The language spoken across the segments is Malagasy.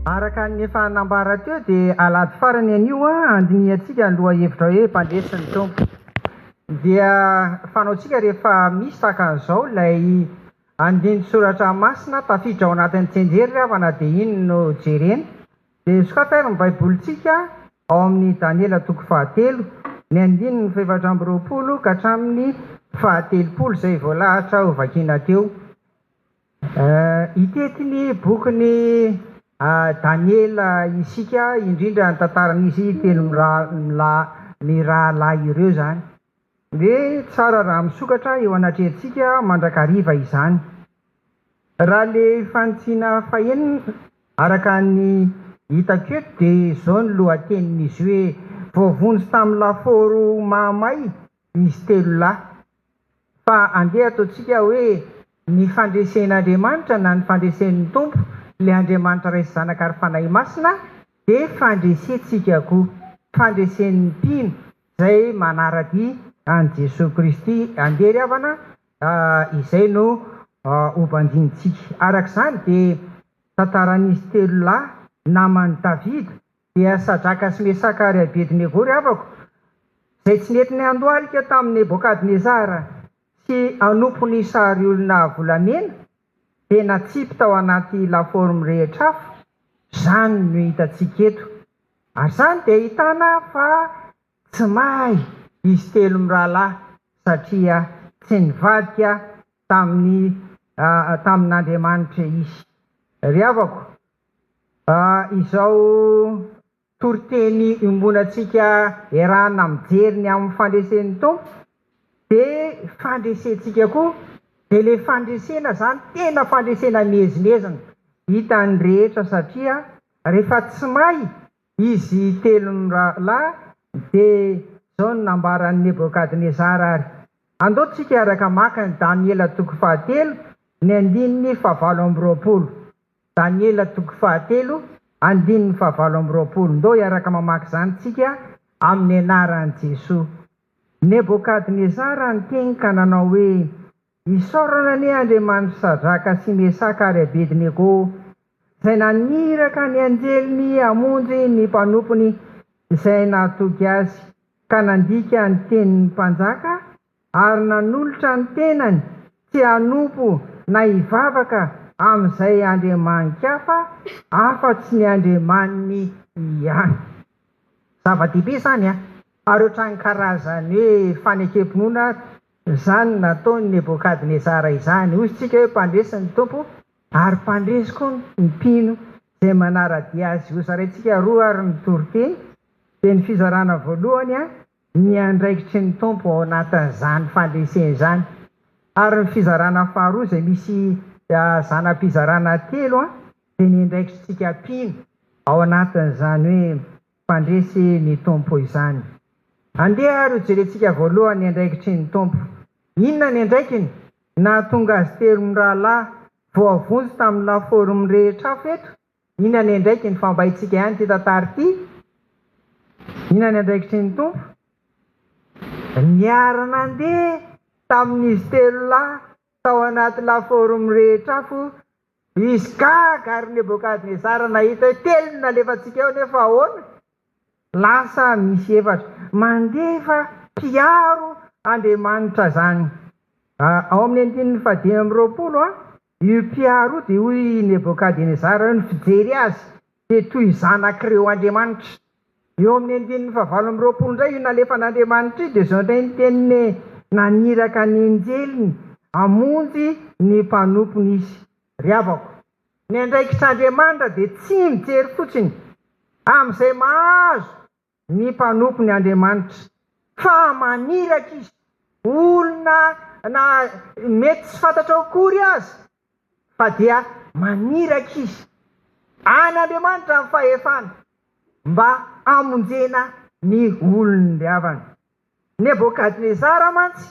Araka ny efa nambara teo dia alahady farany anio handinihantsika ny lohahevitra hoe Mpandresy ny Tompo. Dia fanaontsika rehefa misy tahaka an'izao ilay andinin-tsoratra masina tafiditra ao anatin'ny tsenjery ry havana dia iny no jerena Dia sokafy ary ny Baibolintsika ao amin'ny Daniela toko fahatelo, ny andininy fahefatra amby roapolo ka hatramin'ny fahatelopolo, izay voalahatra ho vakiana teo. Hitety ny bokin'i Daniela isika, indrindra ny tantaran'izy telo mirahalahy ireo izany. Dia tsara raha misokatra eo anatrehantsika mandrakariva izany. Raha le fanitsiana fahenina, araka ny hitako eto dia izao ny lohatenin'izy hoe, voavonjy tamin'ny lafaoro mahamay izy telo lahy. Fa andeha ataontsika hoe ny fandresen'Andriamanitra na ny fandresen'ny Tompo, ilay Andriamanitra Ray sy Zanaka ary Fanahy Masina, dia fandresentsika koa. Fandresen'ny mpino, Izay manara-dia an'i Jesoa Kristy andeha ry havana a, izay no ho banjinintsika. Araka izany dia tantaran'izy telo lahy naman'i Davida dia Sadraka sy Mesaka ary Abedinego ry havako, izay tsy nety niandohalika tamin'i Nebokadnezara tsy hanompo ny sary olona volamena dia natsipy tao anaty lafaoro mirehitra afo, izany no hitantsika eto. Ary izany dia ahitana fa tsy may izy telo mirahalahy satria tsy nivadika tamin'ny tamin'Andriamanitra izy. Ry havako, izao toriteny iombonantsika iarahana mijery ny amin'ny fandresen'ny Tompo dia fandresentsika koa dia ilay fandresena izany tena fandresena miezinezina hitan'ny rehetra satria rehefa tsy may izy telonra lahy dia izao no nambaran'i Nebokadnezara ary andao tsika hiaraka maka an'i Daniela toko fahatelo ny andininy fahavalo amby roapolo Daniela toko fahatelo, andininy fahavalo amby roapolo Ndao hiaraka mamaky izany tsika amin'ny anaran'i Jesoa. Nebokadnezara niteny ka nanao hoe, Isaorana anie Andriamanitry Sadraka sy Mesaka ary Abednego, izay naniraka ny anjeliny hamonjy ny mpanompony izay nahatoky azy, ka nandika ny tenin'ny mpanjaka ary nanolotra ny tenany tsy hanompo na hivavaka amin'izay andriamani-kafa afa-tsy ny Andriamaniny ihany. Zava-dehibe izany an! Ary ohatran'ny karazan'ny hoe fanekem-pinoana izany nataon'i Nebokadnezara izany. Hoy isika hoe mpandresy ny Tompo ary mpandresy koa ny mpino izay manara-dia Azy. Hozaraintsika roa ary ny toriteny. Dia ny fizarana voalohany ny andraikitry ny Tompo ao anatin'izany fandresena izany, ary ny fizarana faharoa izay misy zana-pizarana telo dia ny andraikitr'tsika mpino ao anatin'izany hoe mpandresy ny Tompo izany. Andeha ary ho jerentsika voalohany ny andraikitry ny Tompo. Inona ny andraikiny? Nahatonga azy telo mirahalahy voavonjy tamin'ny laforme rehetra hafa eto Inona ny andraikiny fa mba itsika ihany ity tantara ity? Inona ny andraikitry ny Tompo? Niara-nandeha tamin'izy telo lahy tao anaty lafaoro mirehitra afo izy Gag ary Nebokadnezara nahita hoe telo no nalefantsika eo nefa ahoana? Lasa misy efatra. Mandefa mpiaro Andriamanitra izany. Ao amin'ny andininy fahadimy amby roapolo, Io mpiaro io dia hoy i Nebokadenezara eo ny fijery azy dia toy zanak'ireo andriamanitra. Eo amin'ny andininy fahavalo amby roapolo indray io nalefan'Andriamanitra io dia izao indray ny teniny naniraka ny anjeliny hamonjy ny mpanompony izy, Ry havako, ny andraikitr'Andriamanitra dia tsy mijery fotsiny amin'izay mahazo ny mpanompony Andriamanitra fa maniraka izy, olona na mety tsy fantatrao akory aza fa dia maniraka izy any Andriamanitra amin'ny fahefany mba hamonjena ny olon-diavany. Nebokadnezara mantsy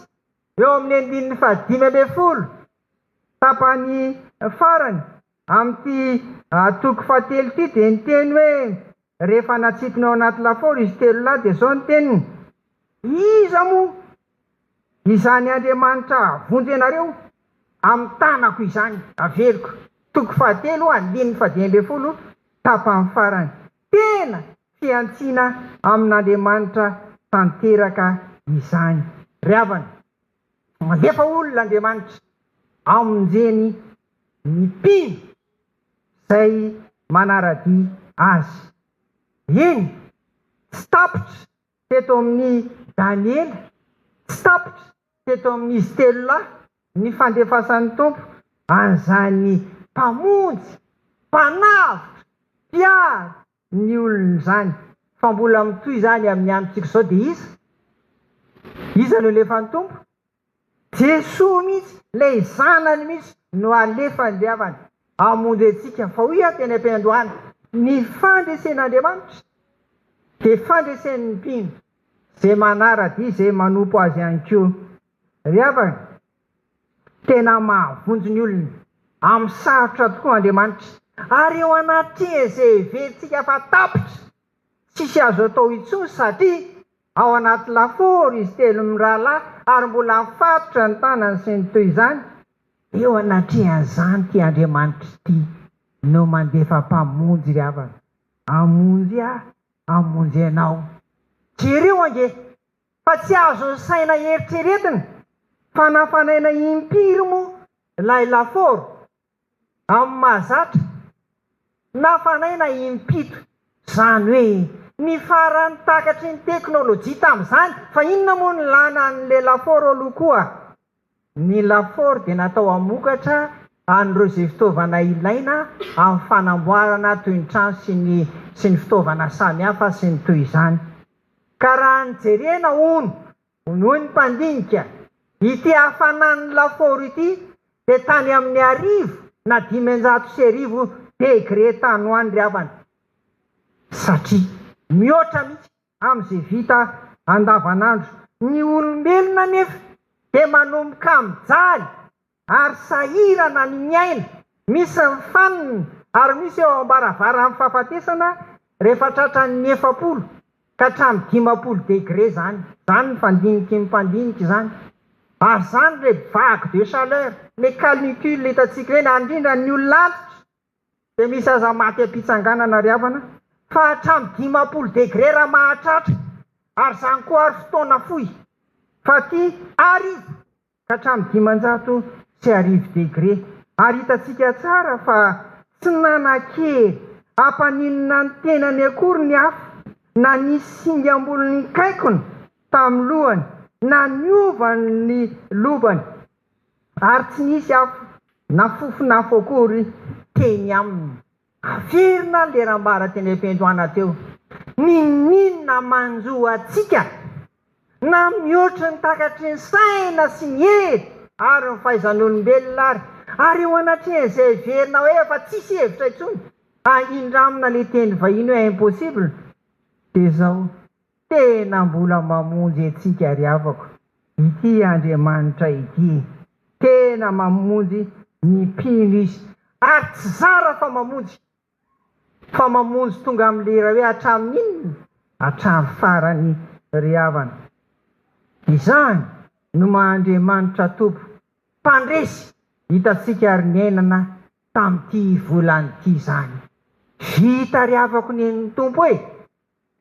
eo amin'ny andininy fahadimy ambin'ny folo tapany farany Amin'ity toko fahatelo ity dia ny teny hoe rehefa natsipiny ao anaty lafaoro izy telo lahy dia izao ny teniny, Iza moa izany Andriamanitra hahavonjy anareo amin'ny tanako izany? Averiko. Toko fahatelo, andininy fadimy ambin'ny folo, tapany farany. Tena fihantsiana amin'Andriamanitra tanteraka izany, ry havana. Mandefa olona Andriamanitra hamonjeny ny mpino izay manara-dia Azy. Eny, tsy tapitra teto amin'i Daniela, tsy tapitra teto amin'izy telo lahy ny fandefasan'ny Tompo an'izany Mpamonjy, Mpanavotra, Mpiaro, ny olona izany. Fa mbola mitohy izany amin'ny androntsika izao dia iza? Iza no alefan'ny Tompo? Jesoa mihitsy, ilay Zanany mihitsy no alefany ry havana, hamonjy antsika. Fa hoy aho teny am-piandohana, ny fandresen'Andriamanitra dia fandresen'ny mpino, izay manara-dia, izay manompo Azy ihany koa. Ry havana, Tena mahavonjy ny olony amin'ny sarotra tokoa Andriamanitra. Ary eo anaty tgv tsika fa tapitra tsisy azo atao intsony satria ao anaty lafaoro izy telo mirahalahy ary mbola mifatotra ny tanany sy ny toy izany, eo anatrehan'izany ity Andriamanitra ity no mandefa mpamonjy ry havana hamonjy ahy hamonjy anao. Jereo ange! Fa tsy azo saina eritreretina fa nafanaina impiry moa ilay lafaoro? Amin'ny mahazatra, nafanaina impito. Izany hoe ny faran'ny takatry ny teknolojia tamin'izany, fa inona moa no lana an'ilay lafaoro aloha koa? Ny lafaoro dia natao hamokatra an'ireo izay fitaovana ilaina amin'ny fanamboarana toy ny trano sy ny sy ny fitaovana samihafa sy ny toy izany. Ka raha ny jerena hono, hoy ny mpandinika, ity hafanan'ny lafaoro ity dia tany amin'ny arivo na dimanjato sy arivo degre tany ho any ry havana. Satria mihoatra mihitsy. amin'izay vita andavanandro. Ny olombelona anefa dia manomboka mijaly ary sahirana ny miaina, misy ny fanina ary misy eo am-baravaran'ny fahafatesana rehefa tratran'ny efapolo ka hatramin'ny dimampolo degre izany. Izany ny fandinikin'ny mpandinika izany. Ary izany ilay vague de chaleur, ilay canicule hitantsika ireny, ary indrindra ny olona antitra Dia misy aza maty am-pitsanganana ry havana fa hatramin'ny dimampolo degré raha mahatratra ary izany koa ary fotoana fohy fa aty ary ka hatramin'ny dimanjato sy arivo degré ary hitantsika tsara fa tsy nanan-kery hampaninona ny tenany akory ny afo na nisy singam-bolon'inkaikona tamin'ny lohany na niova ny lobany Ary tsy nisy afo na fofon'afo akory teny aminy. Averina ny leram-bara teny am-piandohana teo. Ninoninona manjo antsika na mihoatry ny takatry ny saina sy ny hery ary ny fahaizan'olombelona ary. Ary eo anatrehan'izay heverina hoe efa tsisy hevitra intsony, hahindramina ilay teny vahiny hoe impossible, dia izao. Tena mbola mamonjy antsika ry havako ity Andriamanitra ity. Tena mamonjy ny mpino izy ary tsy zara fa mamonjy. Fa mamonjy tonga amin'ny lera hoe hatramin'inona? Hatramin'ny farany ry havana. Izany no maha Andriamanitra Tompo mpandresy hitantsika ary niainana tamin'ity volana ity izany. Vita ry havako nen'ny Tompo e!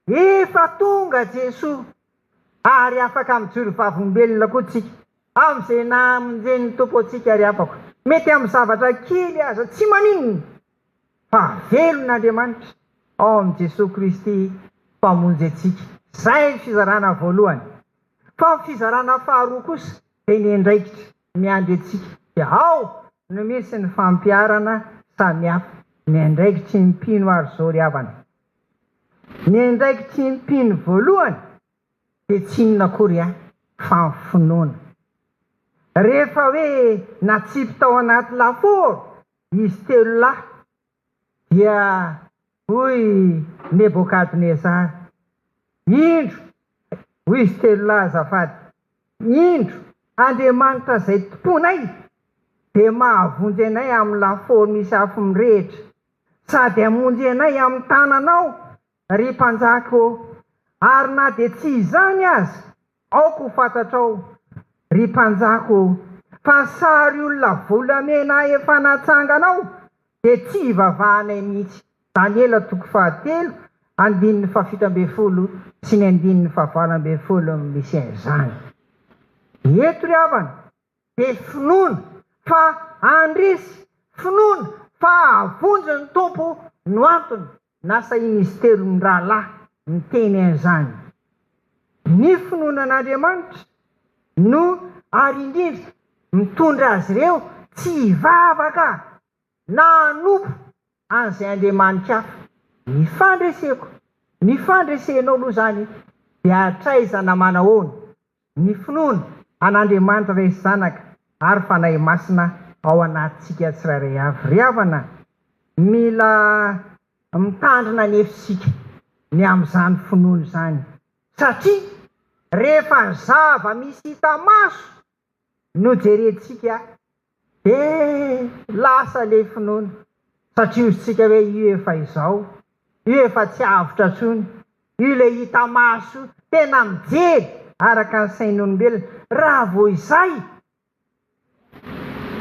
Efa tonga Jesoa, ary afaka mijoro vavolombelona koa tsika, amin'izay namonjen'ny Tompo antsika ry havako. Mety amin'ny zavatra kely aza tsy maninona, fa velona Andriamanitra ao amin'i Jesoa Kristy Mpamonjy antsika. Izay ny fizarana voalohany. Fa ny fizarana faharoa kosa dia ny andraikitra miandry antsika. Dia ao no misy ny fampiharana samihafa, ny andraikitry ny mpino ary izao ry havana. Ny andraikitry ny mpino voalohany dia tsy inona akory fa ny finoana. Rehefa hoe natsipy tao anaty lafaoro izy telo lahy dia hoy Nebokadnezara, Indro, hoy izy telo lahy azafady, indro, Andriamanitra izay tomponay dia mahavonjy anay amin'ny lafaoro misy afo mirehitra Sady hamonjy anay amin'ny tananao, ry mpanjaka ô, ary na dia tsy izany aza, aoka ho fantatrao, ry mpanjaka ô, fa sary olona volamena efa natsanganao, dia tsy hivavahanay mihitsy. Daniela toko fahatelo, andininy fahafito ambin'ny folo sy ny andininy fahavalo ambin'ny folo miseha izany. Eto ry havana, dia finoana fa handresy, finoana fa hahavonjy ny Tompo no antony nasahin'izy telo mirahalahy niteny an'izany. Ny finoana an'Andriamanitra no ary indrindra mitondra azy ireo tsy hivavaka na hanompo an'izay andriamani-ka hafa. Ny fandreseko, ny fandresenao aloha izany dia hatraiza na manahoana? Ny finoana an'Andriamanitra Ray sy Zanaka ary Fanahy Masina ao anatintsika tsirairay avy. Ry havana, mila mitandrina anefa isika ny amin'izany finoana izany satria rehefa zava-misy hita maso nojerentsika dia lasa le finoana satria ozintsika hoe io efa izao, io efa tsy avotra tsony, io le hita maso tena mijery araka ny sain'olombelona raha vao izay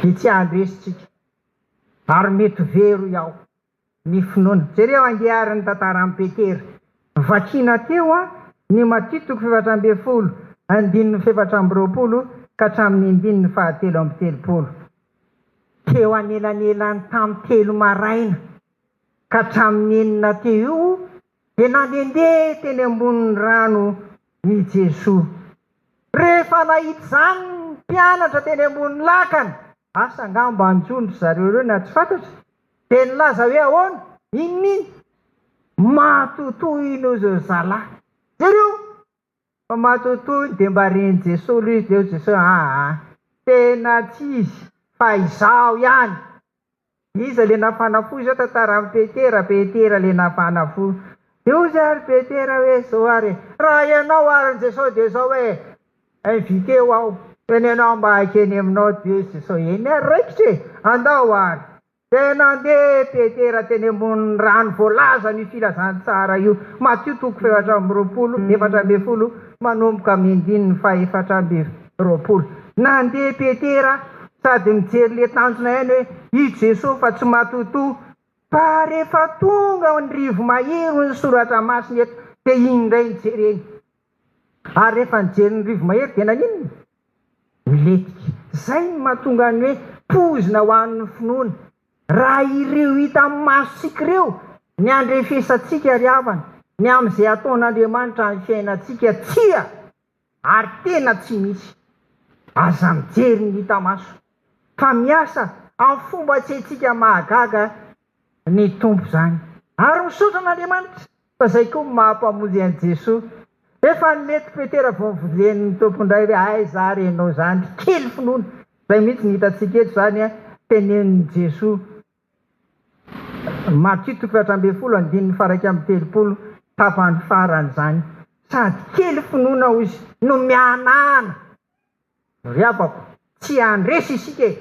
dia tsy handresy tsika ary mety ho very hoy aho ny finoana. Jereo andiarin'ny tantaran'i Petera. Vakina teo ny Matio toko fahefatra ambin'ny folo, andininy fahefatra amby roapolo ka hatramin'ny andininy fahatelo amby telopolo. Teo anelanelan'ny tamin'ny telo maraina ka hatramin'ny enina teo io dia nandehandeha teny ambonin'ny rano i Jesoa. Rehefa nahita izany ny mpianatra teny ambony lakana, asa angamba hanjo an-dry zareo ireo na tsy fantatra Dia nilaza hoe ahoana? Inona iny? Matotoa iny hoy izao zalahy. Jereo fa matotoa iny dia mba ren'i Jesoa aloha izy dia hoy Jesoa aa tena tsy izy fa izaho ihany. Iza ilay nafana fo izao? Tantara amin'i Petera, Petera ilay nafana fo. Dia hoy izy ary Petera hoe izao ary e, raha ianao ary ny Jesoa dia izao hoe, Inviter ho aho eny ianao mba haikeny aminao Dieu sy Soe ny ary raikitra e! Andao ary! Dia nandeha Petera teny ambonin'ny rano voalazany io filazantsara io, Matio toko fahefatra amby roapolo, efatra ambin'ny folo manomboka amin'ny andininy fahefatra amby roapolo. Nandeha Petera sady nijery ilay tanjona ihany hoe i Jesoa fa tsy matotoa. Fa rehefa tonga ao an'ny rivo mahery hoy ny soratra masina eto dia iny indray no jereny. Ary rehefa nijery ny rivo-mahery dia naninona? Nilentika. Izay no mahatonga ny hoe poizina ho an'ny finoana. Raha ireo hita amin'ny masontsika ireo, ny andrefesantsika ry havana, ny amin'izay ataon'Andriamanitra amin'ny fiainantsika, tsia! ary tena tsy misy. Aza mijery ny hita maso, fa miasa amin'ny fomba tsy haintsika mahagaga ny Tompo izany. Ary misaotra an'Andriamanitra. Fa zay koa maha mpamonjy an'i Jesoa. Rehefa hanome to Petera vao novolen'ny Tompo indray hoe aiza ary enao zany ry kely finoana. Zay mihitsy no hitantsika eto zany an, tenenin'i Jesoa. Matio toko efatra ambin'ny folo andininy faha iraika amby telopolo tapany farany zany. Sady kely finoana hoy izy no mihanahana. Ry havako, tsy handresy isika e.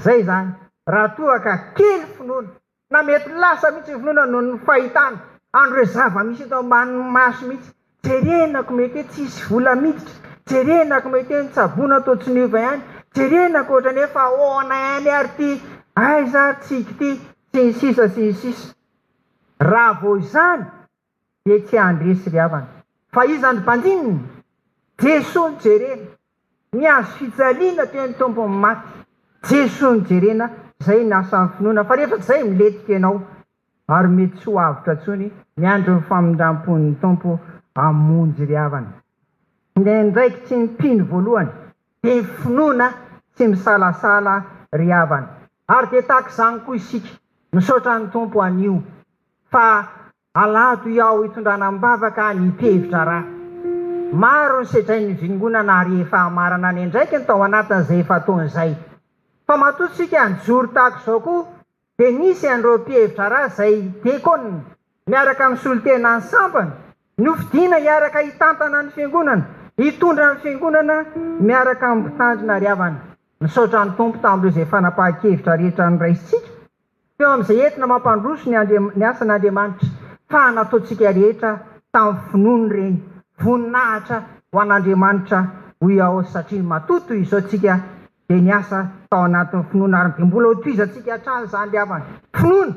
Zay zany. Raha toa ka kely finoana. Na mety lasa mihitsy ny finoana noho ny fahitana an'ireo zava-misy eto ambanin'ny maso mihitsy. Jerena ko mety hoe tsy hisy vola miditra, jerena ko mety hoe ny tsaboina toa tsy niova ihany, jerena ko ohatran'ny hoe fa ahoana ihany ary ity, aiza ary tsiky ity, sy ny sisa sy ny sisa. Raha vao izany dia tsy handresy ry havana. Fa iza no mpandininy? Jesoa no jerena. Ny azo fijaliana dia ny tombon'ny maty. Jesoa no jerena, izay ny asan'ny finoana. Fa rehefa tsy izay, milentika ianao ary mety tsy ho avotra intsony. Miandry ny famindram-pon'ny Tompo hamonjy ry havana. Ny andraikitry ny mpino voalohany dia ny finoana tsy misalasala ry havana. Ary dia tahaka izany koa isika. Misaotra ny Tompo anio. Fa alahado hiao hitondrana am-bavaka ny tevitra ra. Maro ny sedrain'ny vingonana ary efa hamarana ny andraikiny tao anatin'izay efa-taona izay. Fa matoa tsika nijoro tahaka izao koa dia nisy an'ireo mpihevitra ra izay Diakon miaraka amin'ny solontena ny sampany nofidina hiaraka hitantana ny fiangonana, hitondra ny fiangonana miaraka amin'ny mpitandrina ry havana. Misaotra ny Tompo tamin'ireo izay fanapahan-kevitra rehetra noraisintsika. teo amin'izay entina mampandroso ny Andriam-, ny asan'Andriamanitra, fa nataontsika rehetra tamin'ny finoana ireny, voninahitra ho an'Andriamanitra hoy aho satria matoa toy izao tsika dia niasa tao anatin'ny finoana ary dia mbola hotohizantsika hatrany izany ry havana, finoana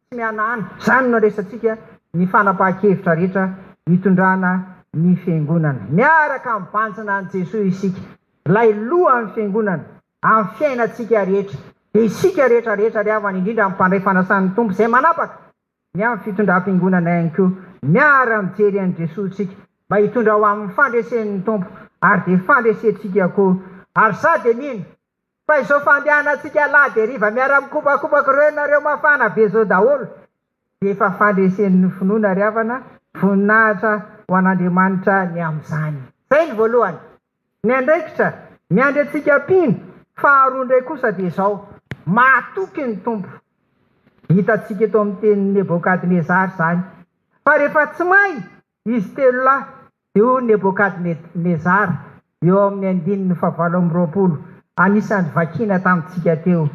tsy mihanahana, izany no nandraisantsika ny fanapahan-kevitra rehetra hitondrana ny Fiangonana, miaraka mibanjina an'i Jesoa isika, ilay Lohan'ny Fiangonana. amin'ny fiainantsika rehetra. Dia isika rehetra rehetra ary havany indrindra amin'ny mpandray fanasan'ny Tompo izay manapaka, ny amin'ny fitondram-piangonana ihany koa, miara-mijery an'i Jesoa isika mba hitondra ho amin'ny fandresen'ny Tompo ary dia fandresentsika koa ary za dia mino fa izao fandehanantsika lahady hariva miara-mikopakopaka ireo ianareo mafana be izao daholo dia efa fandresen'ny finoana ry havana, voninahitra ho an'Andriamanitra ny amin'izany. Izay ny voalohany. Ny andraikitra miandry antsika mpino faharoa indray kosa dia izao, Mahatoky ny Tompo. Hitantsika eto amin'ny tenin'i Nebôkadnezara izany, fa rehefa tsy may izy telo lahy, dia hoy Nebôkadnezara, eo amin'ny andininy fahavalo amby roapolo, anisan'ny vakiana tamintsika teo,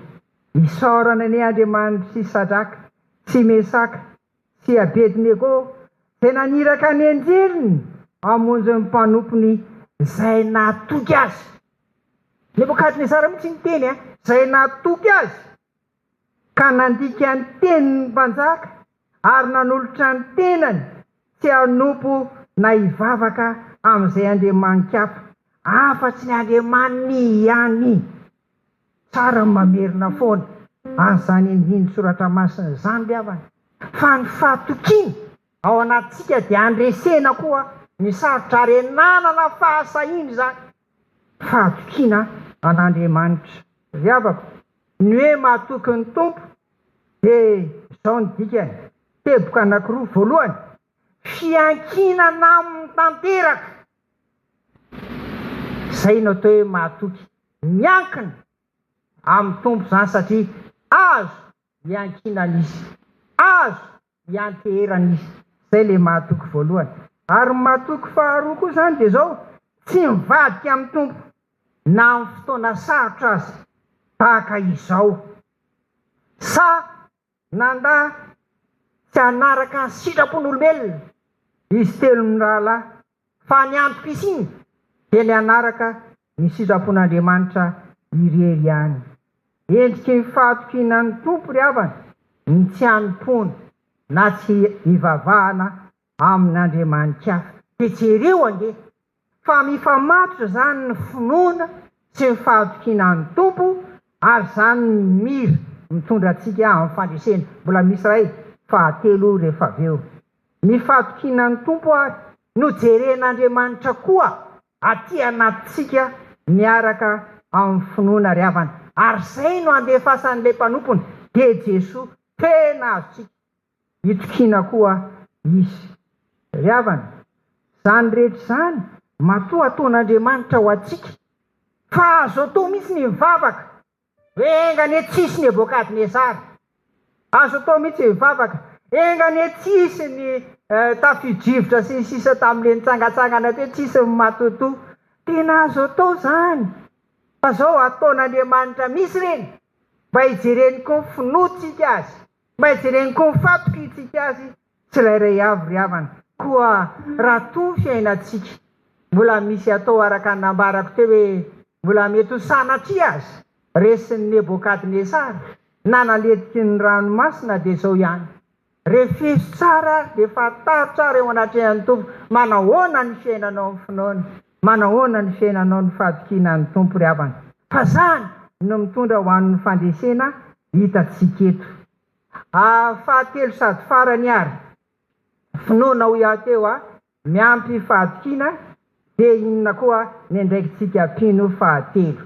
Isaorana anie Andriamanitry Sadraka sy Mesaka sy Abednego dia naniraka ny anjeliny hamonjy ny mpanompony izay nahatoky azy. Nebokadnezara mihitsy no teny, izay nahatoky azy, ka nandika ny tenin'ny mpanjaka ary nanolotra ny tenany tsy hanompo na hivavaka amin'izay andriamanin-kafa afa-tsy ny Andriamaniny ihany. Tsara ny mamerina foana an'izany andinin tsoratra masina izany ny havana, fa ny fahatokiana ao anatintsika dia handresena koa ny sarotra ary hananana fahasahiana izany fahatokiana an'Andriamanitra. Ry havako, ny hoe mahatoky ny Tompo dia izao ny dikany, teboka anankiroa, voalohany, fiankinana aminy tanteraka, Zay no atao hoe mahatoky. Miankina amin'ny Tompo izany satria azo iankinana Izy, azo ianteherana Izy. Zay ilay mahatoky voalohany. Ary ny mahatoky faharoa koa izany dia izao, tsy mivadika amin'ny Tompo na amin'ny fotoana sarotra aza tahaka izao. Sa Nanda tsy hanaraka ny sitrapon'olombelona izy telo mirahalahy, fa ny antom-pisiany dia ny hanaraka ny sitrapon'Andriamanitra irery ihany. Endriky ny fahatokiana ny Tompo ry havana ny tsy hanompoana na tsy hivavahana amin'Andriamanitra hafa. Dia jereo ange fa mifamatotra izany ny finoana sy ny fahatokiana an'ny Tompo ary izany no mira mitondra antsika amin'ny fandresena. Mbola misy iray fahatelo rehefa avy eo. Ny fahatokiana ny Tompo ary no jeren'Andriamanitra koa aty anatintsika miaraka amin'ny finoana ry havana. Ary izay no andefasan'ilay mpanompony dia Jesoa tena azontsika. Itokiana koa izy. Ry havana, izany rehetra izany matoa ataon'Andriamanitra ho antsika, fa azo atao mihitsy ny mivavaka hoe enga anie tsy hisy Nebokadnezara. Azo atao mihitsy ny mivavaka enga anie tsy hisy ny tafio-drivotra sy ny sisa tamin'ilay nitsangantsangana teo, tsy hisy ny matotoa. Tena azo atao izany, fa izao ataon'Andriamanitra mihitsy ireny mba hijereny koa ny finoantsika azy Mba jereny koa ho fatoky itsika azy tsirairay avy ry havana, koa raha toa fiainantsika mbola misy atao araka ny nambarako teo hoe mbola mety ho sanatria aza resin'i Nebokadnesara na naletiky ny ranomasina dia izao ihany, refiso tsara ary dia fantaritra ary eo anatrehan'ny Tompo manahoana ny fiainanao amin'ny finoana. Manahoana ny fiainanao ny fahatokiana an'ny Tompo ry havana? Fa zany no mitondra ho an'ny fandresena hitantsika eto. Ah fahatelo sady farany ary, finoana hoy aho teo a, miampy fahatokiana de inona koa ny andraikitsika mpino fahatelo.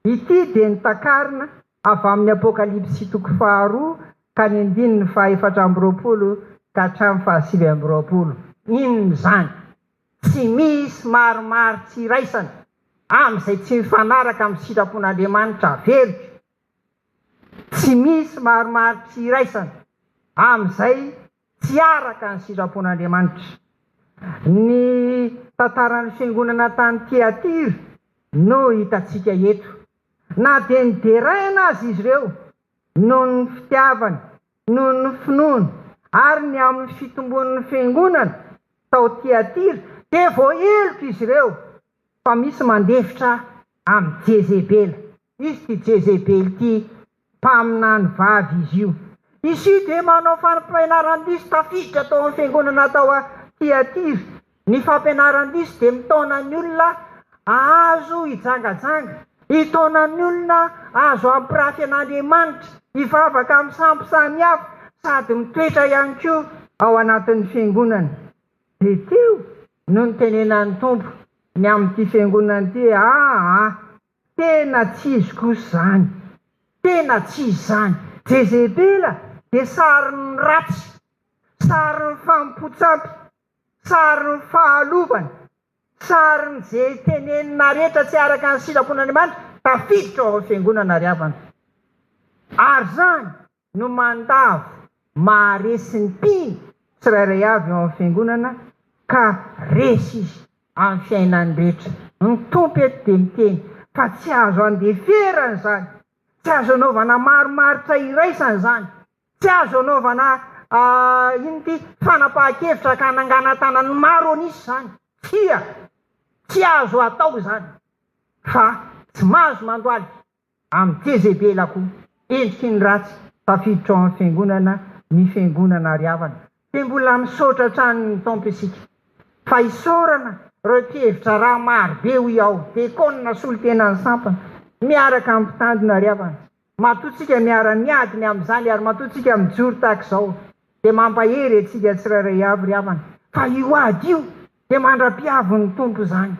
Ity dia ny takarina avy amin'ny Apokalypsy toko faharoa ka ny andininy faha efatra amby roapolo ka hatramin'ny faha sivy amby roapolo. Inona izany? Tsy misy maromaro tsy iraisana amin'izay tsy mifanaraka amin'ny sitrapon'Andriamanitra averiko. Tsy misy maromaro tsy iraisana amin'izay tsy araka ny sitrapon'Andriamanitra. Ny tantaran'ny fiangonana tany Tyatira no hitantsika eto. Na dia nideraina aza izy ireo noho ny fitiavany noho ny finoany ary ny amin'ny fitombon'ny Fiangonana tao Tyatira dia voaheloka izy ireo fa misy mandefitra amin'i Jezebela. Izy ity Jezebela ity, mpaminany vavy izy io. Izy io dia manao fampianaran-diso tafiditra tao amin'ny Fiangonana tao Tyatira. Ny fampianaran'ny lisy dia mitaona ny olona ahazo hijangajanga, hitaona ny olona azo hampirafy an'Andriamanitra, hivavaka amin'ny sampy samihafa sady mitoetra ihany koa ao anatin'ny Fiangonana. Dia teo no nitenenan'ny Tompo ny amin'ity Fiangonana ity hoe, Aa, tena tsy izy kosa izany, tena tsy izy izany. Jezebela dia sarin'ny ratsy, sarin'ny famompon-tsampy. Sarin'ny fahalovany, sarin'ny ze tenenina rehetra tsy araka ny sitrapon'Andriamanitra tafiditra ao amin'ny fiangonana ry havana. Ary zany no mandavo maharesy ny mpino tsirairay avy ao amin'ny fiangonana ka resy izy amin'ny fiainany rehetra. Ny Tompo eto dia miteny fa tsy azo andeferana izany, tsy azo anaovana marimaritra iraisana izany Tsy azo anaovana inona ity, fanapahan-kevitra ka hananganantana ny maro an'isa izany. Tsia, tsy azo atao izany. Fa tsy mahazo mandohalika amin'ny Jezebela koa endriky ny ratsy tafiditra ao amin'ny Fiangonana ny Fiangonana ary havana. Dia mbola misaotra hatrany ny Tompo isika. Fa isaorana ireo mpihevitra raha marobe hoy aho, Dekona solontenan'ny sampana miaraka amin'ny mpitandrina ary havana. Matoa tsika miara miady ny amin'izany ary matoa tsika mijoro tahaka izao dia mampahery antsika tsirairay avy ry havana fa io ady io dia mandra-pihavin'ny Tompo izany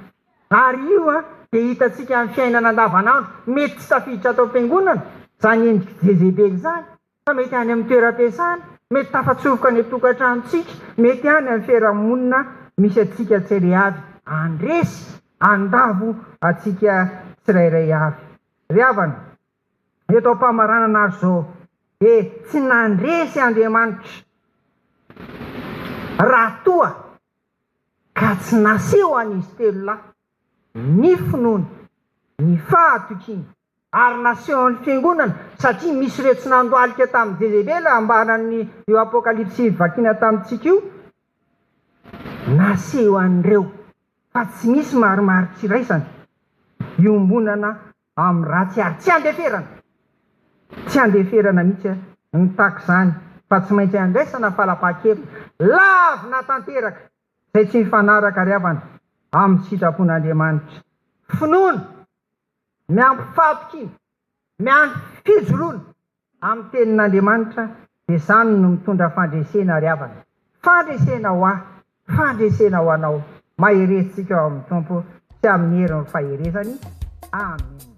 ary io dia hitantsika amin'ny fiainana andavan'andro mety tsy tafiditra ato am-piangonana izany endrik'i Jezebely izany fa mety any amin'ny toeram-piasana mety tafatsofoka any an-tokantranontsika mety any amin'ny fiarahamonina misy antsika tsiraiavy handresy handavo antsika tsirairay avy Ry havana, ny eto am-pamaranana azy izao dia tsy nandresy Andriamanitra raha toa ka tsy naseho an'izy telo lahy ny finoany, ny fahatokiany ary nasehon'ny Fiangonana satria misy ireo tsy nandohalika tamin'i Jezebela ambaran'io Apokalypsy vakina tamintsika io, naseho an'ireo fa tsy misy marimaritra iraisana iombonana amin'ny ratsy ary tsy andeferana, tsy andeferana mihitsy ny tax izany fa tsy maintsy andraisana falapahan-keviny lavina tanteraka izay tsy mifanaraka ary havana amin'ny sitrapon'Andriamanitra. Finoana miampy fahampikiana miampy fijoroana. Amin'ny tenin'Andriamanitra dia izany no mitondra fandresena ry havana. Fandresena ho ahy, fandresena ho anao. Maherezintsika ao amin'ny Tompo sy amin'ny herin'ny faherezany. Amen.